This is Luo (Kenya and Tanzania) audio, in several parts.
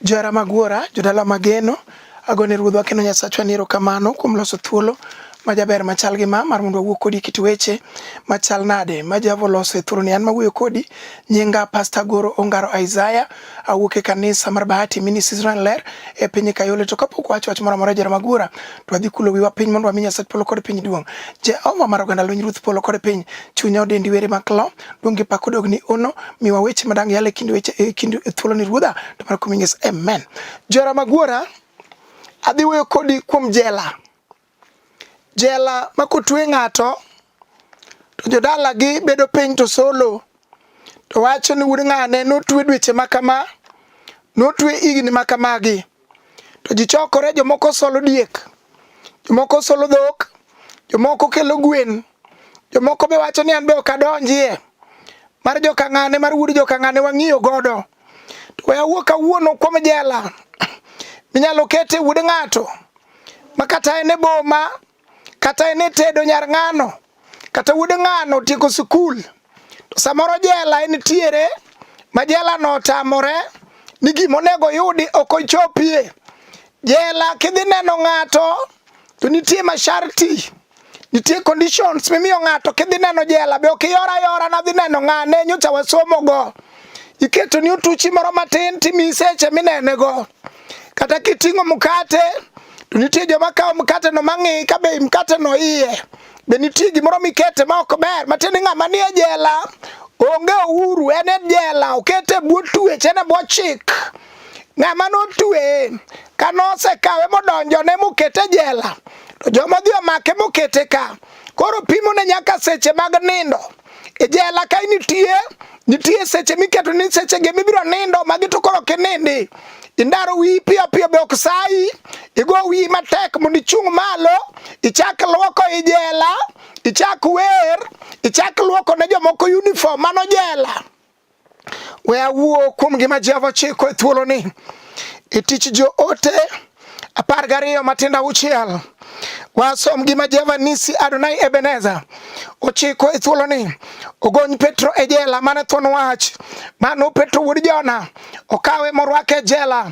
Johera mag Wuora, jodala mageno, agone Ruodhwa kendo Nyasachwa ni erokamano kuom loso thuolo ma jaber machal gi ma mar mondo wawuo kodi kit weche machal nade ma Jehova oloso e thuoloni. An mawuoyo kodi nyinga Pastor Goro Ongaro Isaiah, awuok e kanisa mar Bahati Ministries Ranler e piny Kayole. To kapok wacho wach moro amora jera magura, to adhi kulo wiwa piny mondo wami Nyasaye polo kod piny duong'. Jehova mar oganda lweny Ruoth polo kod piny, chunya odendi were maklo, donge pako dogni ono, miwa weche madang yale kind weche e kind thuolo ni Ruodha, to mar kuminges. Amen. Jera magura, adhi wuoyo kodi kuom jela. Jela ma kotwe ng'ato to jodalagi bedo piny to solo to wacho ni wuod ng'ane notwe dweche ma kama, notwe higni ma kamagi. To ji chokore, jomoko solo diek, jomoko solo dhok, jomoko kelo gwen, jomoko be wacho ni an be ok adonjie mar jokang'ane mar wuod jokang'ane wang'iyo godo. To we awuo kawuono kuom jela minyalo kete wuod ng'ato ma kata en e boma kata en e tedo nyar ng'ano kata wuod ng'ano otieko sikul to samoro jela en tiere ma jela no otamore ni gima onego yudi ok ochopie jela kidhi neno ng'ato To nitie masharti, nitie conditions mimiyo ng'ato kidhi neno jela be ok iyor ayora nadhi neno ng'ane nyocha wasomogo. Iketo ni otuchi moro matin timi seche minenego. Kata kiting'o mkate to nitie joma kawo mkate no mang'i ka be mkate no iye be nitie gimoro mikete ma ok ber matiende ng'ama nie jela onge uhuru en e jela okete bwo tuech en e bwo chik ng'ama notweye ka nosekawe modonjone mokete jela to joma odhi omake mokete ka koro pimone nyaka seche mag nindo e jela ka nitie nitie seche miketo ni seche gi mibiro nindo magi to koro kinindi indaro wiyi piyo piyo be ok sayi igo wiyi matek mondo ichung' malo ichak lwoko i jela ichak wer ichak lwoko ne jomoko uniform mano jela We awuo kuom gima Jehova chiko e thuoloni e tich joote apar gariyo matindo auchiel wasom gima Jehova nisi Adonai Ebeneza ochiko e thuoloni ogony Petro e jela mane thuon wach mano Petro wuod Jona okawe morwake e jela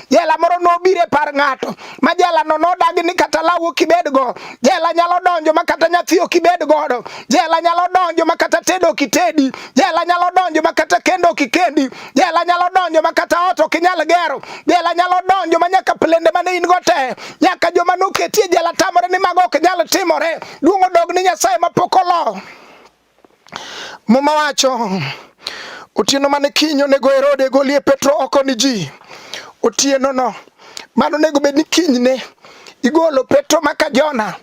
Jela moro nobiro e par ng'ato ma jelano nodagi ni kata law ok ibedgo. Jela nyalo donjo ma kata nyathi ok ibed godo. Jela nyalo donjo ma kata tedo ok itedi. Jela nyalo donjo ma kata kendo ok ikendi. Jela nyalo donjo ma kata ot ok inyal gero. Jela nyalo donjo ma nyaka plende mane in go te nyaka joma noketie jela tamore ni mago ok nyal timore. Duong' odog ni Nyasaye mapok olo. Muma wacho otieno mane kiny onego Herode golie Petro oko ni ji otieno no mano onego bed ni kinyne igolo Petro maka Jona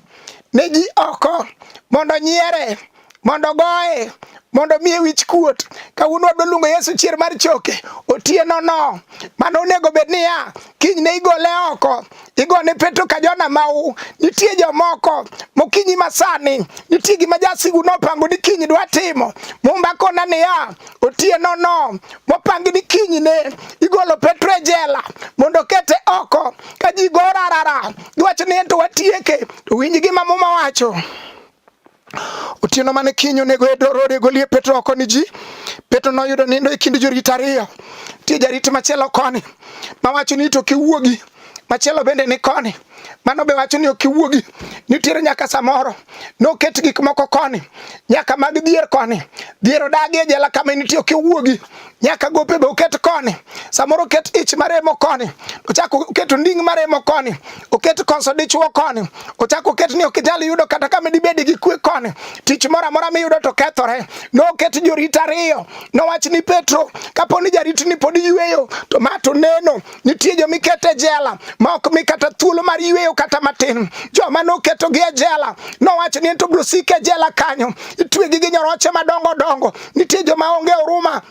ne ji oko mondo nyiere mondo goye mondo miye wich kuot kawuono wadwa luongo Yesu chier mar choke otieno no mano onego bed niya kinyne igole oko igone Petro ka Jona mau. Nitie jomoko mokinyi masani, nitie gima jasigu nopango ni kinyi dwa timo. Mumba kona niya, otieno no mopangi ni kinyi ne igolo Petro e jela mondo kete oko ka ji gorarara giwacho ni ento watieke. Winj gima Muma wacho. Otieno mane kiny onego e dorode e golie Petro oko ni ji. Petro noyudo nindo e kind jorit ariyo. Tie jarit machielo koni mawacho ni to kiwuogi machielo bende ni koni mano be wacho ni ok iwuogi nitiere nyaka samoro noket gik moko koni nyaka mag dhier koni dhier odagi e jela kama nitie ok iwuogi nyaka gope be oket koni, samoro oket ich maremo koni, ochak oket nding maremo koni, oket konso dichwo koni, ochak oket ni ok inyal yudo kata kama dibed gi kwe koni, tich moro amora miyudo to kethore. Noket jorit ariyo, nowach ni Petro, kapo ni jaritni pod yueyo to ma to neno, Nitie joma iketo e jela ma ok mi kata thuolo mar yueyo kata matin. Joma noketogi e jela nowacho ni ento biro sik e jela kanyo, ituegi gi nyoroche madongo dongo. Nitie joma onge huruma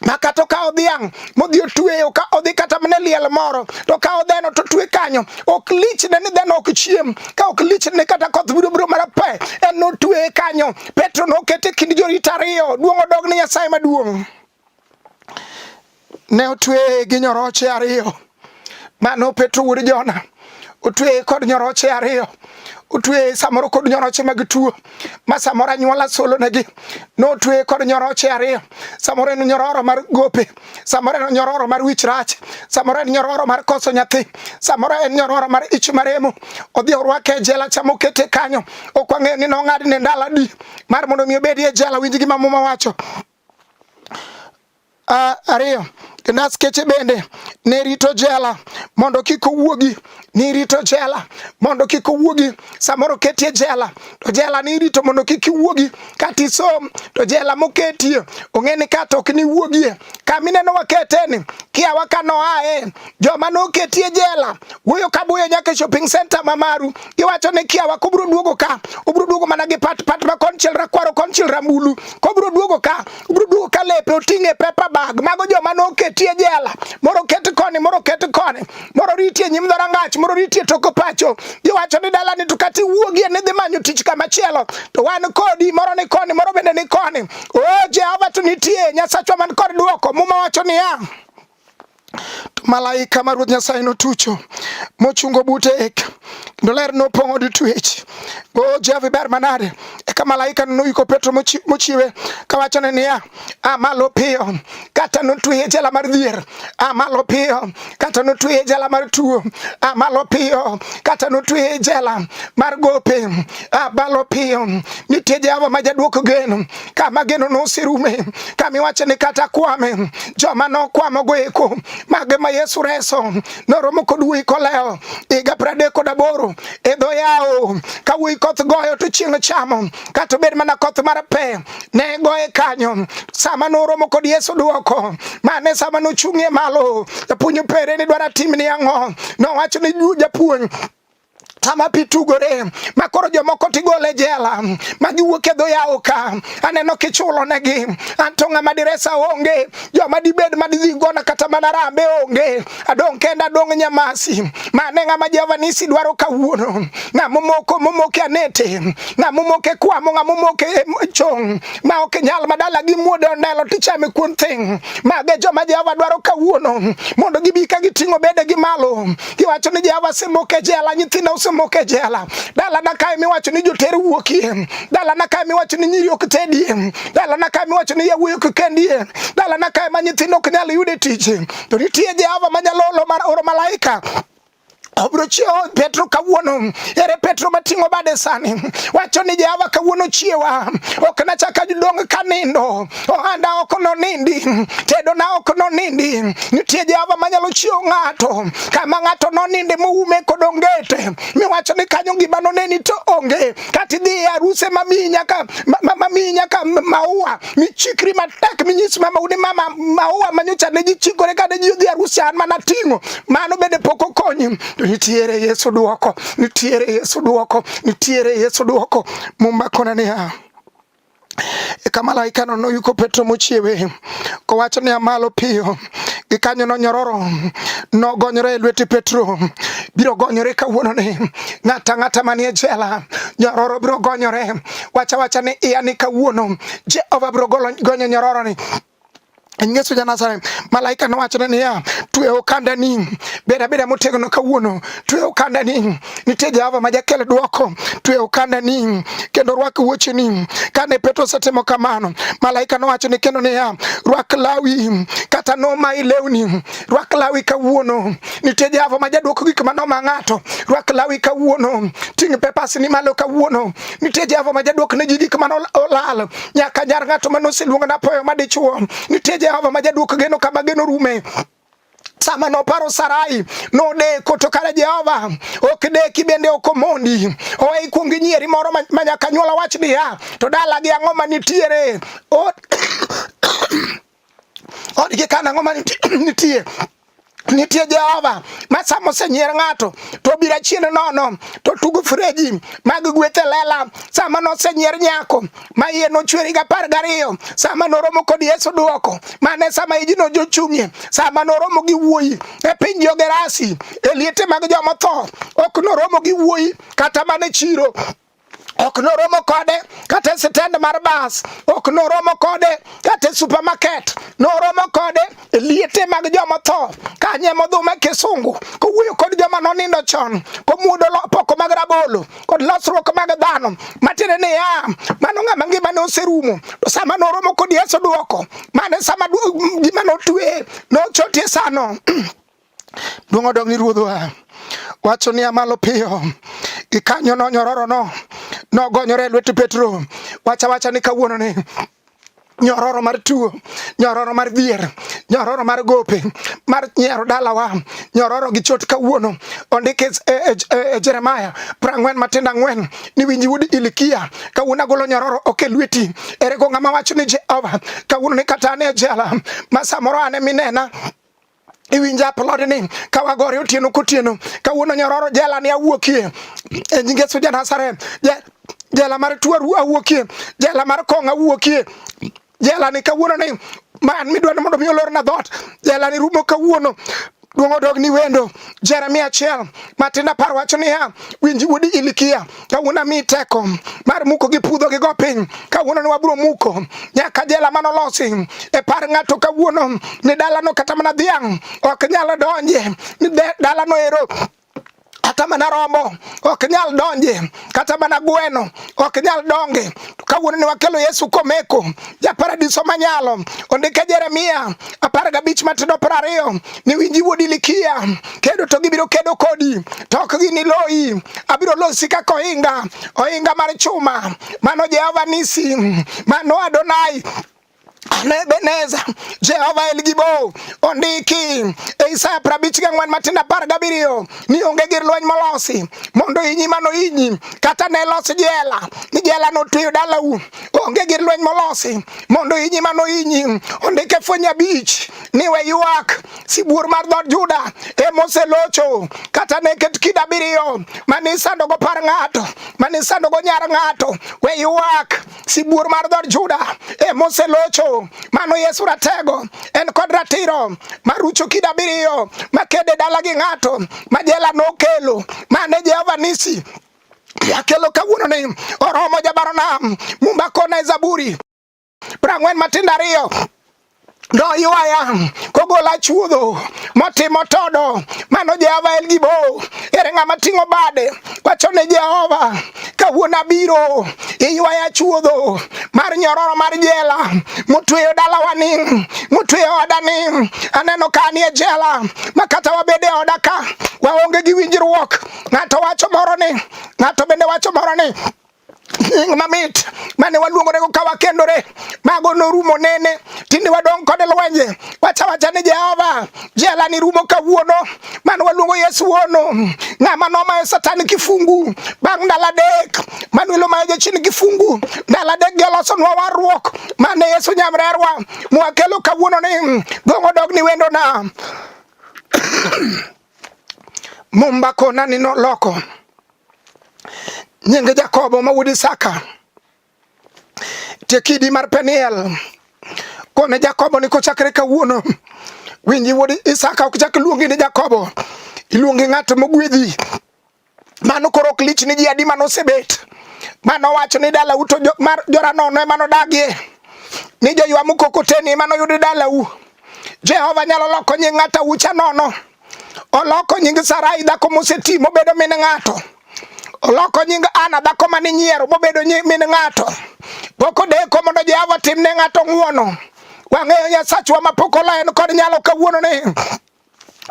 ma kata okawo dhiang' modhi otweyo ka odhi kata mne liel moro to kawo dheno to twe kanyo ok lichne ni dheno ok chiem ka ok lichne kata koth biro biro mana pe en notweye kanyo petro nokete kind jorit ariyo duong' odog ne nyasaye maduong' ne otweye gi nyoroche ariyo mano Petro wuod Jona otweye kod nyoroche ariyo otweye samoro kod nyoroche mag tuo ma samoro anyuola solonegi notweye kod nyoroche ariyo samoro en nyororo mar gope samoro en nyororo mar wich rach samoro en nyororo mar koso nyathi samoro en nyororo mar ich maremo odhi orwake e jela chama okete kanyo ok wang'eyo ni nong'adne ndalo adi mar mondo mi obedi e jela winj gima muma wacho Uh, ariyo naskeche bende ne rito jela mondo kik owuogi nirito jela mondo kik owuogi samoro ketie jela to jela nirito mondo kik iwuogi kata isom to jela moketie ong'e ni kato ok niwuogie kamineno waketeni kiawa kanoae joma noketie jela wuoyo ka buyo nyaka e shopping center ma Maru giwacho ni kiawa kobro duogo ka obro duogo mana gi pat pat ma konchiel rakwaro konchiel rambulu kobro duogo ka obro duogo ka lepe oting'e paper bag mago joma noketie jela moro ket koni moro ket koni moro ritie nyim dhorangach moro ritie toko pacho giwacho ni dala ni to kati wuogie ni dhi manyo tich kama chielo to wan kodi moro ni koni moro bende ni koni o oh, Jehova to nitie nyasachwa man kod duoko muma wacho niya to malaika ma Ruoth Nyasaye notucho mochungo bute eka kendo ler nopong'o od twech. O Jehova iber manade! Eka malaika noyiko Petro mochiwe kawachone niya, a malo piyo, kata notweye e jela mar dhier, a malo piyo, kata notweye e jela mar tuo, a malo piyo, kata notweye e jela mar gope, a malo piyo. Nitie Jehova ma jadwoko geno, kama geno noserume kama iwacho ni kata kwame joma nokwamo go eko mage ma Yesu reso noromo kod wuoyi koleo higa pradek kod aboro e dho yawo ka wuoyi koth goyo to chieng' chamo kata obed mana koth mar pe ne goye kanyo sama noromo kod Yesu duoko mane sama nochung'ie malo japuonj opere ni dwara timni ang'o nowacho ni japuonj sama pi tugore ma koro jomoko tigole jela ma giwuok e dho yawo ka aneno kichulo negi anto ng'ama diresa onge joma dibed ma didhi gona kata mana rambe onge adong' kenda adong' nyamasi mane ng'ama Jehova nisi dwaro kawuono ng'ama omoko momoke anete ng'ama omoke kwamo ng'ama omoke e chong ma ok nyal madala gi muode ondelo tichame kuon thing' mage joma Jehova dwaro kawuono mondo gibi ka giting'o bedegi malo Iwacho ni Jehova asemoko e jela, nyithinda osemoko e jela. Dalana kae miwacho ni joter wuokie. Dalana kae miwacho ni nyiri ok tedie. Dalana kae miwacho ni yawuoyi ok kendie. Dalana kae ma nyithindo ok nyal yude tich. To nitie Jehova manyalo oro malaika obiro chiewo Petro kawuono. Ere Petro mating'o bade sani? Wacho ni Jehova kawuono chiewa, ok nachak adong kanindo. ohanda ok nonindi, tedona ok nonindi. Nitie Jehova manyalo chiwo ng'ato kama ng'ato noninde moume kod ongete miwacho ni kanyo gima noneni to onge kata idhi e aruse mamiyi nyaka mamiyi nyaka maua michikri matek minyis mama uni mama maua manyocha ne jichikore kane ji odhi arus an mana ting'o mano bende pok okonyi to nitiere Yesu duoko nitiere Yesu duoko nitiere Yesu duoko muma kona niya Eka malaikano noyuko Petro mochiewe kowacho niya, malo piyo. Gikanyono nyororo nogonyore e lwete Petro, biro gonyore kawuononi. Ng'ata ng'ata manie jela nyororo biro gonyore. Wacha wacha ni iya ni kawuono Jehova biro gonyo nyororoni. Yesu ja Nazareth, malaika nowachone niya, twe okandani, bed abeda motegno kawuono, twe okandani, nitie Jehova ma jakel dwoko, twe okandani kendo rwak wuocheni. Kane Petro osetimo kamano, malaika nowachone kendo niya, rwak lawi kata nomayi lewni, rwak lawi kawuono, nitie Jehova ma jadwoko gik ma noma ng'ato, rwak lawi kawuono, ting' pepas ni malo kawuono, nitie Jehova ma jadwok ne ji gik ma olal, nyaka nyar ng'ato mane oseluonga napoyo madichuo nitie Jehova ma jaduok geno kama geno rume sama noparo Sarai nodeko to kare Jehova ok deki bende ok omondi owe ikuong inyieri moro ma nyaka nyuola wach niya to dalagi ang'o manitiere Odgi kana ngoma nitie nitie Jehova ma sama osenyier ng'ato to obira chien nono to tugo freji mag gweth e lela sama nosenyier nyako ma iye nochweri gi apar gariyo sama noromo kod Yesu duoko mane sama ijino jochung'ie sama noromo gi wuoyi e piny Jogerasi e liete mag jomotho ok noromo gi wuoyi kata mana e chiro ok noromo kode kata e sitend mar bas ok noromo kode kata e supermarket noromo kode e liete mag joma tho kanye modhuma kisungu kowuoyo kod joma nonindo chon komuodo poko mag rabolo kod losruok mag dhano matiende ni ya mano ng'ama ngimane oserumo to sama noromo kod yesu dwoko mane sama gima notwe nochotie sano Duong' odog ni ruodhwa. Wacho ni amalo piyo. Gikanyo no nyororo no. Nogonyore lwet Petro. Wacha wacha ni kawuono ni nyororo mar tuo nyororo mar dhier nyororo mar gope mar nyiero dalawa nyororo gi chot kawuono ondik e, e, e, e jeremaya prang'wen matindo ang'wen ni winji wuod ilikia kawuono agolo nyororo ok e lweti ere go ng'ama wacho ni jehova kawuono ni kata ane jela ma samoro ane minena iwinja aplodni ka wagore otieno kotieno kawuono nyororo jela ni awuokie e nyinge Yesu ja Nazareth jela mar tuo awuokie jela mar kong awuokie jela ni kawuono ni man midwa ni mondo mi olorna dhoot jela ni rumo kawuono duong' odog ni wendo Jeremia achiel matin apar wacho niya winji wuod Ilikia kawuono ami teko mar muko gi pudho gi go piny kawuono ne wabro muko nyaka jela mano losi e par ng'ato kawuono ni dalano kata mana dhiang' ok nyalo donje ni dalano ero kata mana rombo ok nyal donje kata mana gweno ok nyal donge kawuono ne wakelo yesu komeko japaradiso manyalo ondike jeremia apar gabich matindo piero ariyo ni winji wuod Ilikia kedo to gibiro kedo kodi to ok giniloyi. Abiro losi kaka ohinga, ohinga mar chuma. Mano Jehova Nisi, mano Adonai. Ebeneza Jehova El Gibo ondiki e Isaya prabich ga ng'wen matindo apar gabiriyo ni onge gir lweny molosi mondo inyi mano inyi kata ne los jela ni jela notweyo dalau onge gir lweny molosi mondo inyi mano inyi ondike fweny abich ni we ywak sibuor mar dhood Juda e moselocho kata ne ket kida abiriyo mane isandogo par ng'ato mane isandogo nyar ng'ato we ywak sibuor mar dhood Juda e moselocho mano Yesu ratego en kod ratiro marucho kida abiriyo makede dala gi ng'ato ma jela nokelo mane Jehova nisi yakelo kawuono ni oromo jabaronam mumba kona e zaburi prang'wen matindo ariyo noywaya kogola chuodho motimo todo mano jehova en gibo ere ng'ama ting'o bade wacho ne jehova kawuono abiro iywaya chuodho mar nyororo mar jela motweyo dalawa ni motweyo oda ni aneno ka anie jela ma kata wabede oda ka waonge gi winjruok ng'ato wacho moro ni ng'ato bende wacho moro ni nying mamit mane waluongore go ka wakendore mago norumo nene tinde wadong kode lwenje wacha wacha ni jehova jela ni rumo kawuono mane waluongo yesu wuono ng'ama nomayo satan kifungu bang' ndalo adek manuelo mayo jachien kifungu ndalo adek gi olosonwa warruok mane yesu nyamrerwa mwakelo kawuono ni gong'o dog ni wendona mumba kona ni noloko nyinge Jakobo ma wuod Isaka tie kidi mar Peniel kone Jakobo ni kochakre kawuono winji wuod Isaka ok chak luongi ni Jakobo iluongi ng'at mogwedhi mano koro ok lich ni ji adi mano osebet mano wacho ni dala uto mar joranono emano dagie ni joywa mukokoteni emano yudi dalau Jehova nyalo loko nying ng'ata ucha nono Oloko nying Sarai dhako moseti mobedo min ng'ato. Oloko nying Ana dhako mane nyiero mobedo min ng'ato. Pok odeko mondo Jehova tim ne ng'ato ng'uono. Wang'eyo Nyasachwa ma pok ola en kod nyalo kawuono ni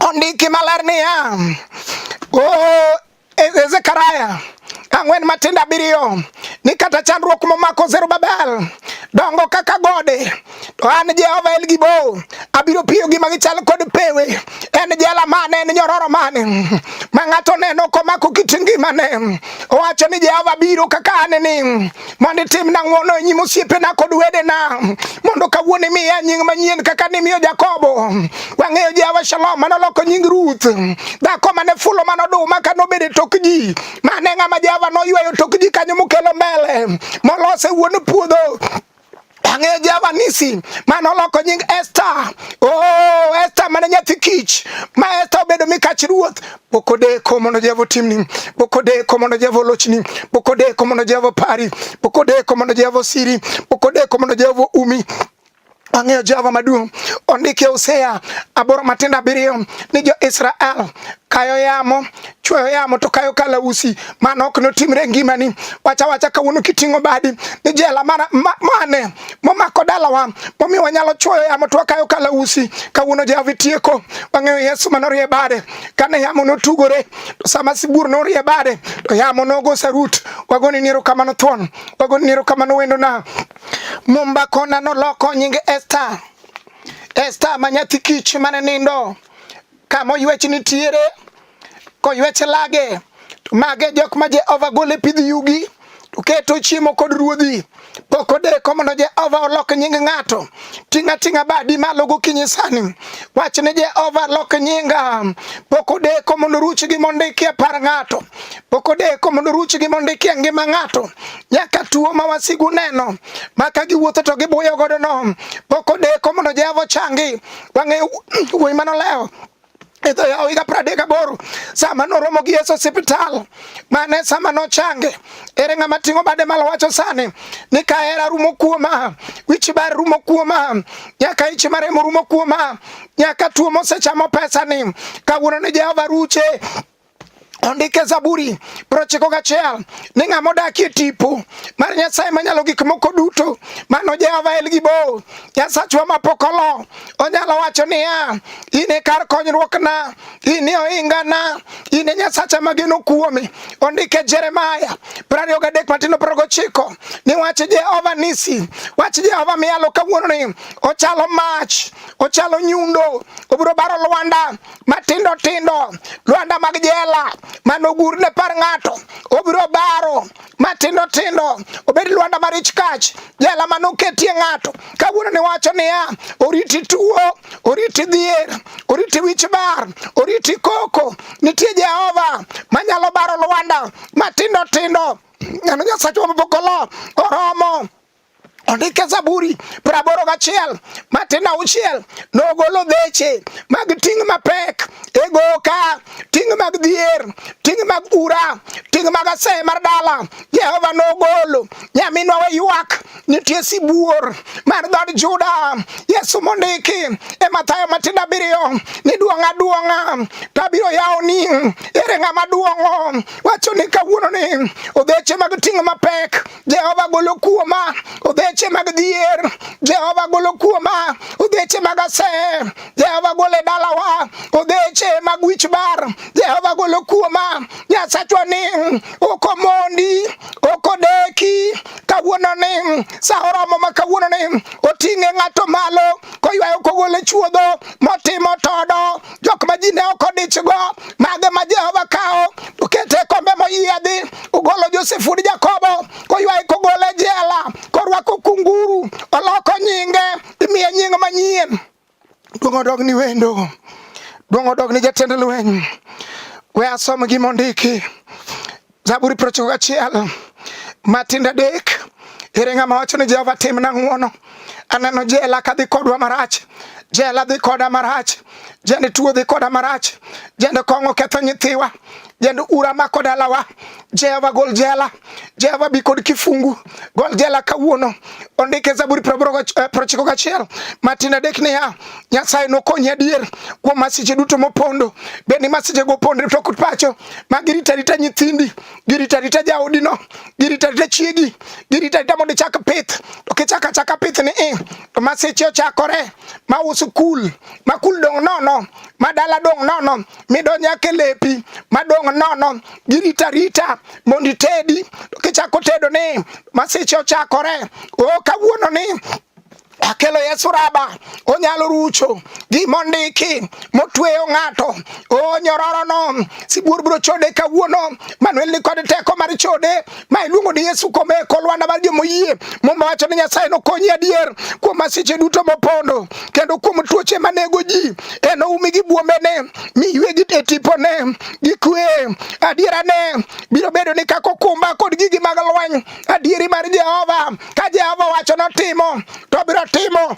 ondiki maler niya, oh, E, e, Zekaria ang'wen matindo abiriyo ni kata chandruok momako Zerubabel dongo kaka gode to an Jehova El Gibor abiro piyo gi magichal kod pewe en jela mane en nyororo mane ma ng'ato neno komako kit ngimane owacho ni Jehova biro kaka aneni mondo itimna ng'wono e nyim osiepena kod wedena mondo kawuono imiya nying manyien kaka nimiyo Jakobo. Wang'eyo Jehova Shalom mane oloko nying Ruth, dhako mane fulo mane oduma kane obedo e tok ji, mane ng'ama Jehova noyweyo tok ji kanyo mokelo mbele molose wuon puodho Ang'eyo Jehova Nisi, mane oloko nying Esta. Oh, Esta mane nyathi kich, ma Esta obedo mikach ruoth. Pok odeko mondo Jehova otimni, pok odeko mondo Jehova olochni, pok odeko mondo Jehova opari, pok odeko mondo Jehova osiri, pok odeko mondo Jehova umi. Ang'eyo Jehova maduong'. Ondike Hosea aboro matindo abiriyo ni jo-Israel kayo yamo chweyo yamo to kayo kalausi mano ok notimre e ngimani wacha wacha kawuono kiting'o badi ni jela mana, ma, mane momako dalawa momiyo wanyalo chwoyo yamo to wakayo kalausi kawuono jehova itieko wang'eyo yesu manorie bade kane yamo notugore to sama sibuor norie bade to yamo nogo sarut wagoni ni erokamano thuon wagoni ni erokamano wendona mumba kona noloko nyinge esta esta ma nyathi kich mane nindo Ka moywech nitiere, koywech lage, to mage jok ma Jehova gole pidh yugi, to keto chiemo kod ruodhi. Pok odeko mondo Jehova olok nying ng'ato. Ting'a ting'a badi malo gokinyi sani. Wach ni Jehova lok nyinga. Pok odeko mondo ruch gi mondo ikie par ng'ato. Pok odeko mondo ruch gi mondo ikie ngima ng'ato. Nyaka tuo ma wasigu neno. Maka giwuotho to gibuyo godo no. Pok odeko mondo Jehova changi. wang'eyo wuoyi mane olewo e dho yawo higa pradek aboro sama noromo gi Yesu osiptal mane sama nochange ere ng'ama ting'o bade malo wacho sani ni ka hera rumo kuoma wich bar rumo kuoma nyaka ich maremo rumo kuoma nyaka tuo mosechamo pesa ni kawuono ni Jehova ruche ondike Zaburi prochiko gachiel ni ng'a modakie tipo mar Nyasaye manyalo gik moko duto mano Jehova El Gibo Nyasachwa mapok olo onyalo wacho niya in e kar konyruokna in e ohingana in e Nyasacha mageno kuome ondike Jeremaya prariyo gadek matino progochiko ni wach Jehova nisi wach Jehova miyalo kawuononi ochalo mach ochalo nyundo obiro baro lwanda matindo tindo lwanda mag jela manogur ne par ng'ato obiro baro matindo tindo obed lwanda mar ich kach jela manoketie ng'ato kawuono ni wacho niya oriti tuo oriti dhier oriti wich bar oriti koko nitie jehova manyalo baro lwanda matindo tindo nyano nyasachwa mabokolo oromo Ondike Zaburi praboro gachiel matin auchiel nogolo dheche mag ting' mapek e goka ting' mag dhier ting' mag ura ting' mag aseye mar dala Jehova nogolo nyaminwa we ywak nitie sibuor mar dhod Juda Yesu mondiki e Mathayo matindo abiriyo ni duong'a duong'a tabiro yawoni ere ng'ama duong'o wacho ni kawuono ni odheche mag ting' mapek Jehova golo kuoma obeche mag dhier, Jehova golo kuoma obeche mag asee, Jehova golo e dalawa obeche mag wich bar, Jehova golo kuoma Nyasachwa ni ok omondi, ok odeki kawuono ni sa oromo ma kawuono ni oting'e ng'ato malo koywayo kogole chuodho motimo todo jok ma ji ne ok odichgo mage ma Jehova kawo okete e kombe moyiedhi ogolo Josef wuod Jakobo koywaye kogole e jela korwako kunguru oloko nyinge imiye nying manyien duong' odog ni wendo duong' odog ni jatend lweny we asom gimondiki Zaburi piero ochiko gachiel matindo adek ere ng'ama wacho ni Jehova timna ng'wono aneno jela kadhi kodwa marach jela dhi koda marach jende tuo dhi koda marach jende kong'o ketho nyithiwa jende ura mako dalawa jehova gol jela jehova bi kod kifungu gol jela kawuono ondike zaburi prochiko eh, gachiel matin adek niya Nyasaye nokonyi adier kuom masiche duto mopondo. Bed ni masiche go opondre to ok pacho, ma girita rita nyithindi, girita rita jaodino, girita rita chiegi, girita rita mondo ichak pith, to kichak achaka pith ni i, eh, to masiche ochakore, ma usu kul, ma kul dong' nono, ma dala dong' nono, midonjo ake lepi, ma dong' nono, girita rita mondo itedi, to kichako tedo ni masiche ochakore, o oh, kawuono ni akelo Yesu raba onyalo rucho gima ondiki motweyo ng'ato o nyororono sibuor biro chode kawuono manuel ni kod teko mar chode ma iluongo ni Yesu kome e kolwanda mar jomoyie muma wacho ni Nyasaye nokonyi adier kuom masiche duto mopondo kendo kuom tuoche manego ji enoumi gi buombene mi ywegi e tipone gi kwe adierane biro bedo ni kako kumba kod gigi mag lweny adieri mar Jehova ka Jehova owacho notimo to obiro timo.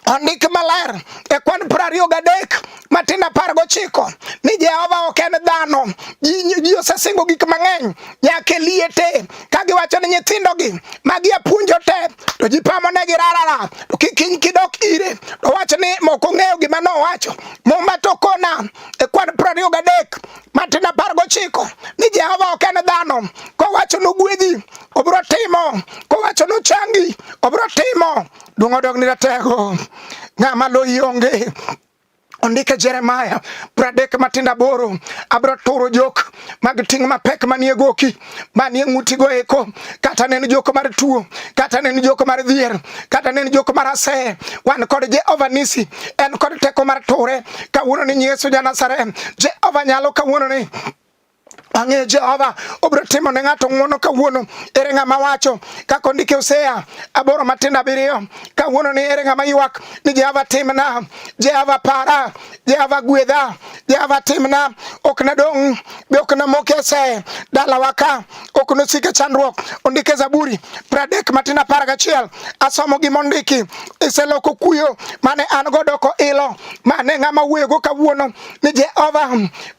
Ondik maler e kwan piero ariyo gadek matin apar gochiko ni Jehova ok en dhano. Ji osesingo gik mang'eny nyaka e liete ka giwacho ni nyithindogi magi apuonjo te to ji pamonegi rarara to kikiny kidok ire to wach ni moko ng'eyo gima nowacho muma to kona e kwan piero ariyo gadek matin apar gochiko ni Jehova ok en dhano, kowacho nogwedhi obiro timo, kowacho nochangi obiro timo. Duong' odog ni ratego, ng'ama loyi onge ondike Jeremaya pradek matindo aboro abiro turo jok mag ting' mapek manie goki manie ng'utigo eko kata ne en joko mar tuo kata ne en joko mar dhier kata ne en joko mar aseye wan kod jehova nisi en kod teko mar ture kawuono ni yesu ja nazareth jehova nyalo kawuono ni ang'eyo jehova obiro timo ne ng'ato ng'wono kawuono ere ng'ama wacho kaka ondike oseya aboro matindo abiriyo kawuono ni ere ng'ama ywak ni jehova timna jehova para Jehova gwedha, Jehova timna, ok nadong' be ok namok e see, dalawa ka ok nosik e chandruok. Ondik e Zaburi pradek matin apar gachiel, asomo gima ondiki, iseloko kuyo mane an go doko ilo, mane ng'ama wuoyogo kawuono ni Jehova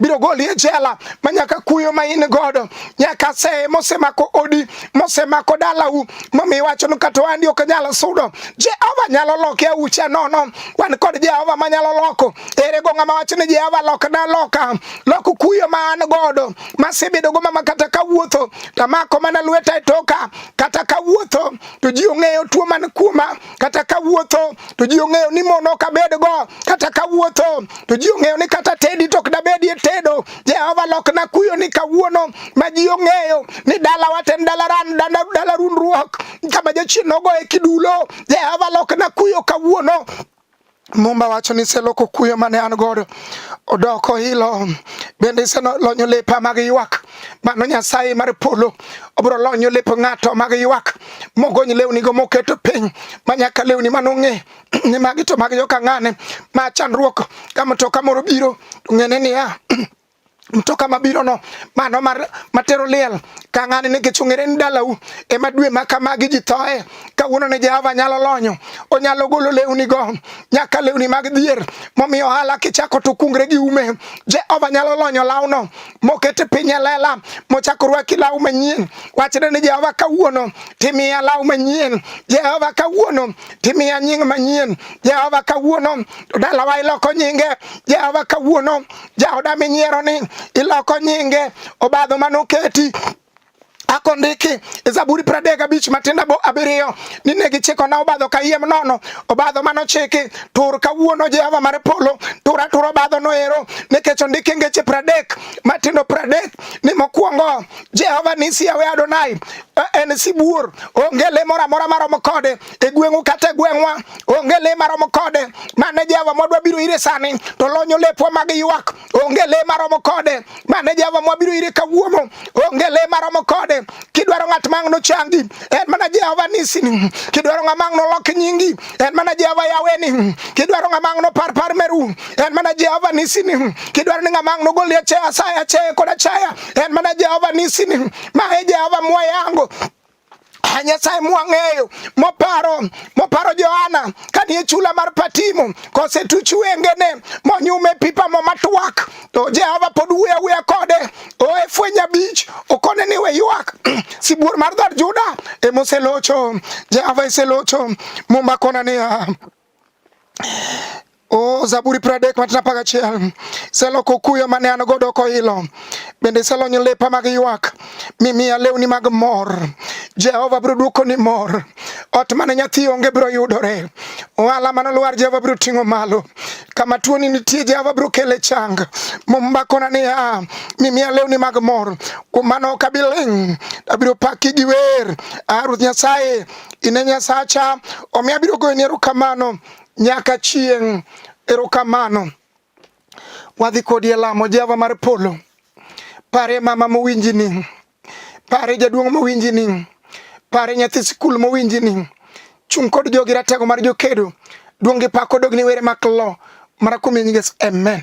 biro goli e jela ma nyaka kuyo ma in godo nyaka se mosemako odi mosemako dalau momi iwacho ni kata wandi ok nyal sudo Jehova nyalo loke aucha nono wan kod Jehova ma nyalo loko ere go ng'ama wacho ni Jehova lok na loka lok kuyo ma an godo masebedo go mama kata kawuotho tamako mana lweta e toka kata kawuotho to ji ong'eyo tuo man kuoma kata kawuotho to ji ong'eyo ni mon ok abedgo, kata kawuotho to ji ong'eyo ni kata tedi to ok dabedie tedo. Jehova lokna kuyo ni kawuono ma ji ong'eyo ni dalawa to en dalaran dala rundruok kama jachien nogoye kidulo. Jehova lokna kuyo kawuono Mumba wacho ni iseloko kuyo mane an godo odoko hilo bende iselonyo lepa mag ywak mano nyasaye mar polo obiro lonyo lep ng'ato mag ywak mogony lewni go moketo piny manyaka lewni mano ng'e ni magi to mag joka ng'ane ma chandruok ka mtoka moro biro ng'ene niya mtoka mabiro no mano mar matero liel ka ng'ani nikech ong'ere ni dalau ema dwe ma kamagi ji thoe kawuono ne Jehova nyalo lonyo onyalo golo lewni go nyaka lewni mag dhier momiyo ohala kichako to kungre gi ume Jehova nyalo lonyo lawno mokete piny e lela mochako rwaki law manyien wachne ni Jehova kawuono timiya law manyien Jehova kawuono timiya nying manyien Jehova kawuono dalawa iloko nyinge Jehova kawuono jaoda minyiero ni iloko nyinge obadho manoketi akondiki e Zaburi pradek abich matinda bo abiriyo ni ne gichikona obadho kayiem nono obadho manochiki tur kawuono Jehova mar polo tur atur obadho noero nikech ondiki ngeche pradek matindo pradek ni mokwongo Jehova nisi yawe Adonai e, en sibuor onge le moro amora maromo kode e gweng'u kata e gweng'wa onge le maromo kode mane Jehova mwadwa biro ire sani to lonyo lepwa mag ywak onge le maromo kode mane Jehova mwabiro ire kawuono onge le maromo kode kidwaro ng'at mang' nochangi en mana Jehova nisini kidwaro ng'a mang' nolok nyingi en mana Jehova yaweni kidwaro ng'a mang' nopar par meru en mana Jehova nisini kidwaro ni ng'a mang' nogoli achaya asaya achaya kod achaya en mana Jehova nisini ma e Jehova mwayango Nyasaye mwang'eyo moparo moparo Johana kanie chula mar Patimo kosetuch wengene monyume pipa mo matwak to Jehova pod wuya wuya kode oe fweny abich okone ni we ywak sibuor mar dhod Juda emoselocho Jehova eselocho mumba kona niya O Zaburi pradek matina paga chiel selo kukuyo mane an godo kohilo bende iselonyo lepa mag ywak mimiya lewni mag mor Jehova biro duoko ni mor ot mane nyathi onge biro yudore ohala mane olwar Jehova biro ting'o malo kama tuoni nitie Jehova biro kele chang mombakona niya mimiya lewni mag mor kuom mano ok abi ling' abiro paki gi wer a Ruoth Nyasaye ine nyasacha omiyo abiro goyoni erokamano nyaka chieng' erokamano wadhi kodi e lamo jehova mar polo pare mama mowinji ni pare jaduong' mowinji ni pare nyathi sikul mowinji ni chung' kod jogi ratego mar jokedo duong' gi pako dogni were mak lo mara kuom yesu amen